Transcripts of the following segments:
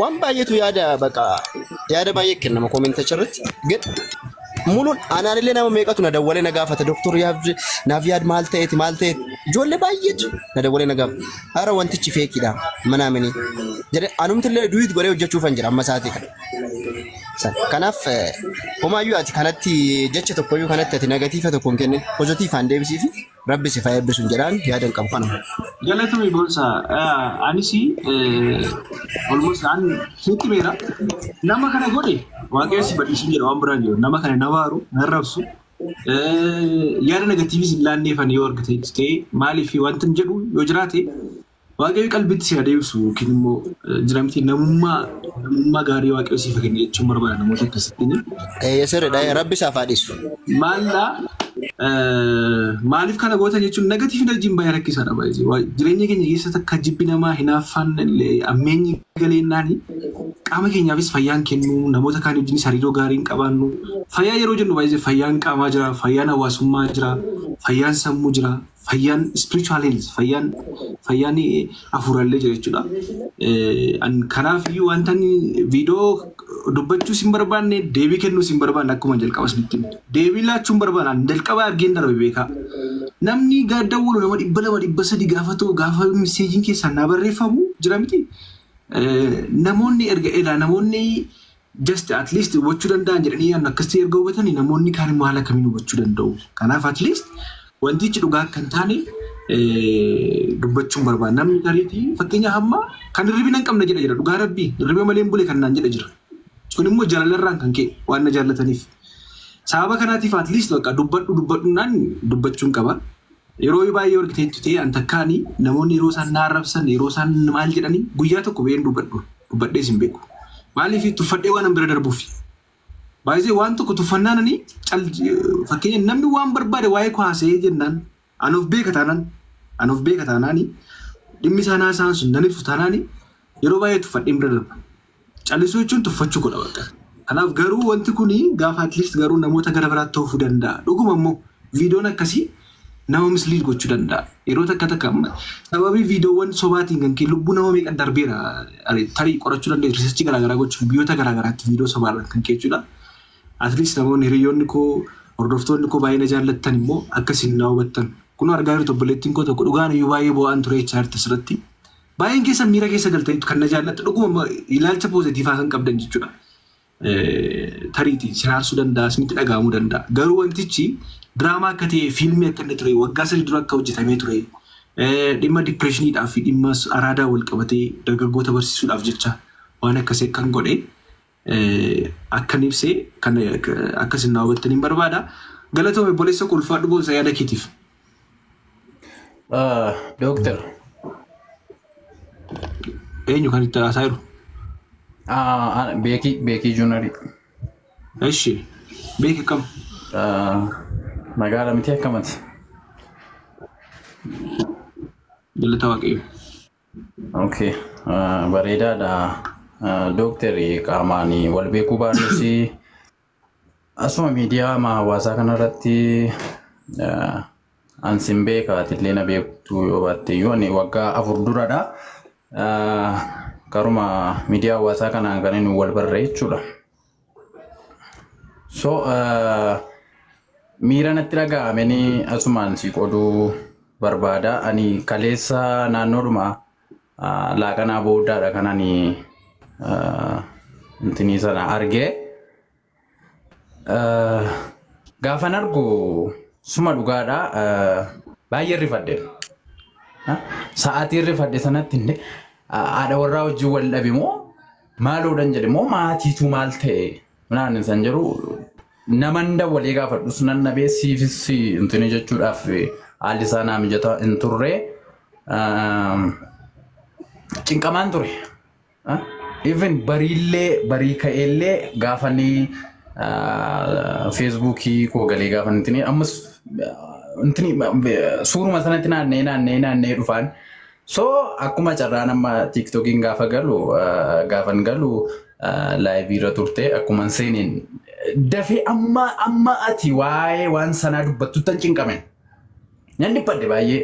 Waan baay'eetu yaada baqa yaada baay'ee kennama koomentacha irratti. Gad muluun anaan illee nama meeqatu na dawwalee na gaafata doktor yaabje naaf yaad maal ta'eeti maal ta'eeti ijoollee baay'eetu na dawwalee na gaafata. Hara wantichi feekiidha mana aminii jedhe anumti illee duwit godhee hojjechuufan jira amma isaatii kana. San. Kanaaf eh, homaayyuu ati kanatti jecha tokkoyyuu kanatti ati negatiifa tokko hin kennin pozitiifaan deebisiifi. Rabbi si fayyaa eebbisun jedhaan yaadan qabu kanuma. Galatoomi boonsaa. Eh, Anis olmoos an sitti beera. Nama kana godhe waaqayyo si badhiisin jedha waan biraan jedhu. Nama kana na waaru, na rabsu. Eh, Yaada negatiivis hin laanneefan yoo argite ta'e maaliif wanti hin jedhu yoo jiraate Waaqayyo qalbiitti si haa deebisu yookiin immoo jira miti namummaa namummaa gaarii waaqayyo siif kenne jechuun barbaada namoota akkasittiin. Eeyyee sirriidha. Rabbi isaaf haa dhiisu. Maalla maaliif kana gootan jechuun negatiiv enerjiin baay'ee rakkisaadha baay'ee jireenya keenya keessatti akka jibbi namaa hinaaffaan ammeenyi galeennaani qaama keenyaafis fayyaan kennuu namoota kaan wajjinis hariiroo gaarii hin qabaannu fayyaa yeroo jennu baay'ee fayyaan qaamaa jira fayyaan hawaasummaa jira fayyaan sammuu jira. fayyaan spiritual health fayyaan fayyaan afuurallee jira jechuudha. Eh, an- Kanaaf iyyuu wanta inni viidiyoo dubbachuus hin barbaanne deebii kennuus hin barbaanne akkuma jalqaba isinitti himte. deebii laachuu hin barbaanne an jalqaba argeen darbe beekaa. Namni gaadda walo nama dhibba lama dhibba sadi gaafatu gaafa miseejiin keessaan naa barreeffamu jira miti. Eh, Namoonni erga ilaa namoonni just at least hubachuu danda'an jedhanii yaadnu akkasitti erga hubatanii namoonni kaan immoo haala kamiin hubachuu danda'u. Kanaaf at least wantichi dhugaa akka hin taane eh, dubbachuun barbaada. Namni tariitii fakkeenya hamma kan hirribina hin qabne jedha jira dhugaa rabbii hirriba malee hin bule kan naan jedha jira. Sun immoo jaalalarraan kan ka'e waan na jaallataniif. Sababa kanaatiif at least bakka dubbadhu dubbadhu naan dubbachuun qaba. Yeroo baay'ee wal giteettu ta'ee an takkaani namoonni yeroo isaan na arrabsan yeroo isaan maal jedhanii guyyaa tokko ba'een dubbadhu dubbadhees hin beeku. Maaliif tuffadhee waan an bira darbuufi. Baay'ee waan tokko tuffannaan ani cal fakkeenya namni waan barbaade waa'ee koo haasa'ee jennaan an of beeka taanaan an of beeka taanaani dhimmi isaan haasa'an sun nan ibsu taanaani yeroo baay'ee tuffadheen bira darba. Callisuu jechuun tuffachuu godha bakka. Kanaaf garuu wanti kun gaafa at least garuu namoota gara biraatti oofuu danda'a. Dhuguma immoo viidiyoon akkasii nama misliid gochuu danda'a. Yeroo takka takka amma sababii viidiyoowwan sobaatiin kan kee lubbuu nama meeqa darbeera tarii qorachuu dandeessu riisarchii garaagaraa gochuuf biyyoota garaagaraatti viidiyoo sobaarraan kan kee jechuudha. At least namoonni hiriyoonni koo hordoftoonni koo baay'ee na jaallattan immoo akkasiin na hubattan. Kun argaa jirtu obboleettiin koo tokko dhugaan iyyuu baay'ee boo'aan ture HR irratti. Baay'een keessan miira keessa galtaniitu kan na jaallattu dhuguma ilaalcha poozitiivaa kan qabdan jechuudha. Tariiti si raarsuu danda'a, isinitti dhaga'amuu danda'a. Garuu wantichi diraamaa akka ta'e fiilmii akka inni ture waggaa sadii dura akka hojjetamee ture dhimma dipireeshiniidhaa fi dhimma araadaa wal qabatee dargaggoota barsiisuudhaaf jecha waan akkasii akkan godhe akkan ibse kan akka isin naa hubattan hin barbaada. Galatoome obboleessa koo ulfaadhu boonsa yaada keetiif. Dooktar. Eenyu kan itti haasaa jiru? Beekii Beekii Juunarii. Eshi beeki akkam? Magaala miti akkamati. Galata waaqayyo. Okay. ah, Bareedaadha. Ah, Dooktarri qaamaan wal beekuu baannus asuma miidiyaa ma- hawaasaa kanarratti ah, an sin beeka atillee na beektu yoo baatte iyyuu ani waggaa afur duradha. Ah, Karuma miidiyaa hawaasaa kanaan kan inni wal barre jechuudha. So uh, miira natti dhaga'ame ni asumaan si qoduu barbaada. Ani kaleessa naannoodhuma uh, laaqanaa booddaadha kan ani uh, intinii sana argee. Uh, gaafan argu suma dhugaadha uh, baay'ee rifadhe. Sa'aatii rifadhe sanatti haadha warraa wajjin wal dhabe moo Maaloo dan jedhe moo maatiitu maal ta'e naan san jedhu naman dawwalee gaafadhus nan dhabee siifis intini jechuudhaaf haalli isaa naa mijataa hin turre cinqamaan ture. Even bariillee barii ka'eellee gaafanii feesbuukii koo galee gaafan intini ammas intini suuruma sanatti naanna'ee naanna'ee naanna'ee dhufaan So akkuma carraan amma tiiktokiin gaafa galu gaafan galu laayivii irra turte akkuman seeneen dafee amma amma ati waa'ee waan sanaa dubbattuttan cinqame nan dhiphadhe baay'ee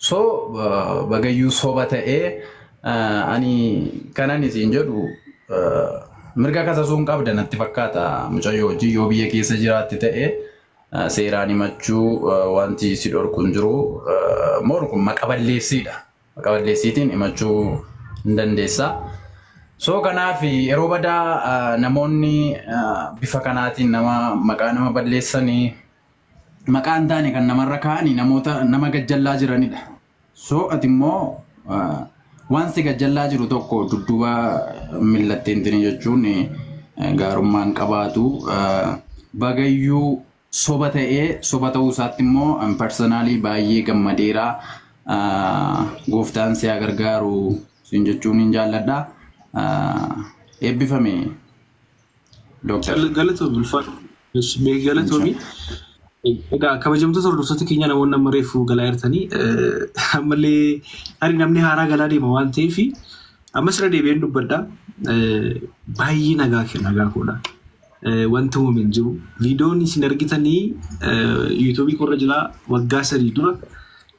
so bagayyuu soba ta'ee ani kanan isin jedhu mirga kasasuu hin qabda natti fakkaata mucayyoo hojii yoo biyya keessa jiraatte ta'ee. seeraan himachuu wanti si dhorku hin jiru. Moor kun maqa balleessiidha. Maqa balleessiitiin himachuu hin dandeessa. So kanaaf yeroo badaa namoonni bifa kanaatiin nama maqaa nama balleessanii maqaa hin taane kan namarra kaa'anii namoota nama gajjallaa jiranidha. So ati immoo waan si gajjallaa jiru tokko dudduuba millatteentini jechuun gaarummaan qabaatu bagayyuu soba ta'ee soba ta'uu isaatti immoo parsanaalii baay'ee gammadeera gooftaan si haa gargaaru siin jechuun hin jaalladha eebbifame. Doktar. Galatoomi ulfaadhu. Galatoomi. Egaa kabajamtoota hordoftoota keenya namoonni amma reefu galaa jirtanii ammallee tarii namni haaraa galaa deema waan ta'eef ammas irra deebi'een dubbadha. Baay'ee nagaa kenna nagaa koodha. Wanti uumame hin jiru. Viidiyoon isin argitanii yuutuubii koorra jira waggaa sadii dura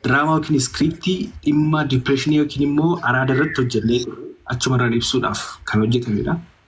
diraamaa yookiin iskiriiptii dhimma dipireeshinii yookiin immoo araada irratti hojjennee achumarraan ibsuudhaaf kan hojjetamedha.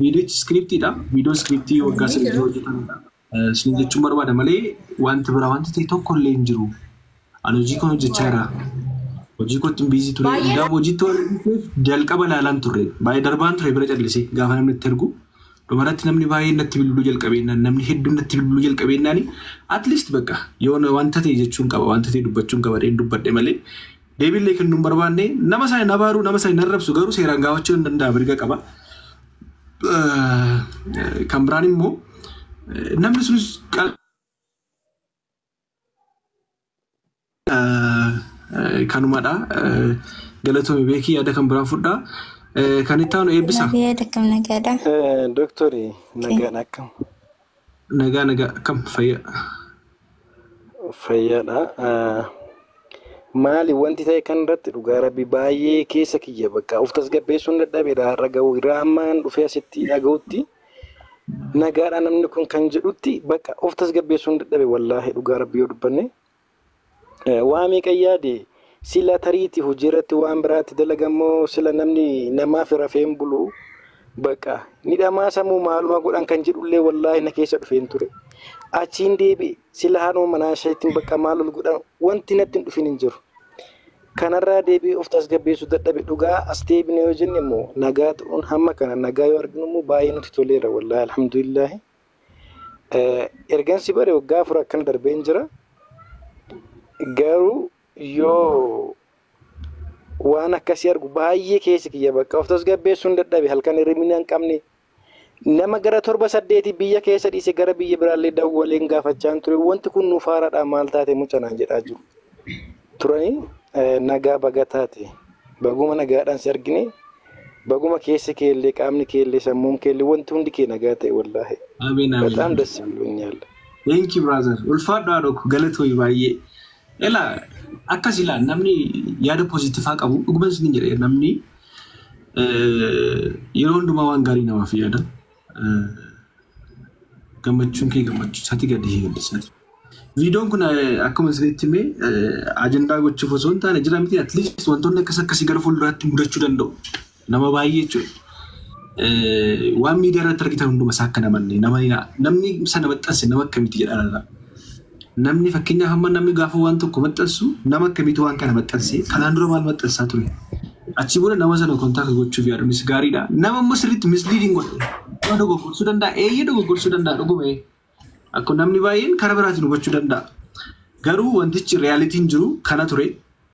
Viidiyochi iskiriptiidha. Viidiyoo iskiriptii waggaa sadiitti hojjetamedha. Isin jechuun barbaada malee wanti biraa wanti ta'e tokko illee hin jiru. Ani hojii kan hojjechaa jira. Hojii kootti hin biizii ture. Baay'ee- Hundaaf hojiitti waan hojjeteef jalqaba ilaalaan turre. Baay'ee darbaan ture bira callisee gaafa namni itti ergu. Dhumarratti namni baay'een natti bilbiluu jalqabeennaan namni hedduun natti bilbiluu jalqabeennaani at least bakka yoo na- wanta ta'e jechuun qaba wanta ta'e dubbachuun qaba dheen dubbadhe malee deebiillee kennuu hin barbaanne nama sana hin abaaruu nama sana hin arrabsu garuu seeraan gaafachuu hin danda'a mirga qaba. Kan biraan immoo namni sunis kanumadha galatoomii beekii yaada kan biraan fudhaa kan itti aanu eebbisa. Nabiyaa dakkam nagaadha. Doktori nagaan akkam? Nagaa nagaa akkam fayyaa. Fayyaadha. Maali wanti ta'e kan irratti dhugaa rabbi baay'ee keessa kiyya bakka of tasgabbeessuun dadhabeera har'a ga'u irraa ammaan dhufee asitti dhaga'utti nagaadha namni kun kan jedhutti bakka of tasgabbeessuun dadhabe wallaahi dhugaa rabbi yoo dubbanne. Waa meeqan yaade sila tariiti hojiirratti waan biraatti dalagan moo sila namni namaaf rafee hin bulu baqa ni dhamaasa moo maaluma godhan kan jedhullee wallaahi na keessa dhufeen ture achiin deebi'e sila haadhuma manaa isheetiin baqa maal ol godhan wanti natti hin dhufin hin jiru. Kanarraa deebi'ee of tasgabbeessuu dadhabe dhugaa as deebine yoo jenne immoo nagaa ta'uun hamma kana nagaa yoo arginu immoo baay'ee nutti toleera wallaahi alhamdulillaahi. Ergan si bare waggaa afur akkana darbeen jira. Garuu yoo waan akkasii argu baay'ee keessa kiyya bakka of tasgabbeessuun dadhabe halkan hirribni hin qabne nama gara torba saddeeti biyya keessa dhiise gara biyya biraallee dawwaleen gaafachaan ture wanti kun nuuf haaraadha maal taate mucanaan jedhaa jiru. turanii nagaa baga taate baguma nagaadhaan si argine baguma keessi kee illee qaamni kee illee sammuun kee illee wanti hundi kee nagaa ta'e wallaahi Ameen ameen. bataam das biloonyaal. Thank you brother. Ulfaadhu haadhoo koo galatoomi baay'ee. Ela akkas ilaa namni yaada poozitiivaa qabu dhuguma isin jedhe namni eh, yeroo hundumaa waan gaarii namaaf yaada. Gammachuun kee gammachuu isaati gadi hiilisati. Viidiyoon kun akkuma isinitti himee ajandaa gochuuf osoo hin taane jira miti at least wantoonni akkas akkasii gara fuulduraatti mudachuu danda'u. Nama baay'ee jechuudha. Waan miidiyaa irratti argitan hunduma isaa akka namanne namni sana maxxanse nama akkamitti jedhaa laata? Namni fakkeenyaaf amma namni gaafa waan tokko maxxansu nama akkamiitu waan kana maxxanse kanaan dura maal maxxansaa ture achi booda nama sana kontaakti gochuuf yaaduunis gaariidha nama immoo sirriitti misliidiin godhe nama dogoggorsuu danda'a eeyyee dogoggorsuu danda'a dhuguma ee akkuma namni baay'een karaa biraatiin hubachuu danda'a garuu wantichi riyaalitiin jiru kana ture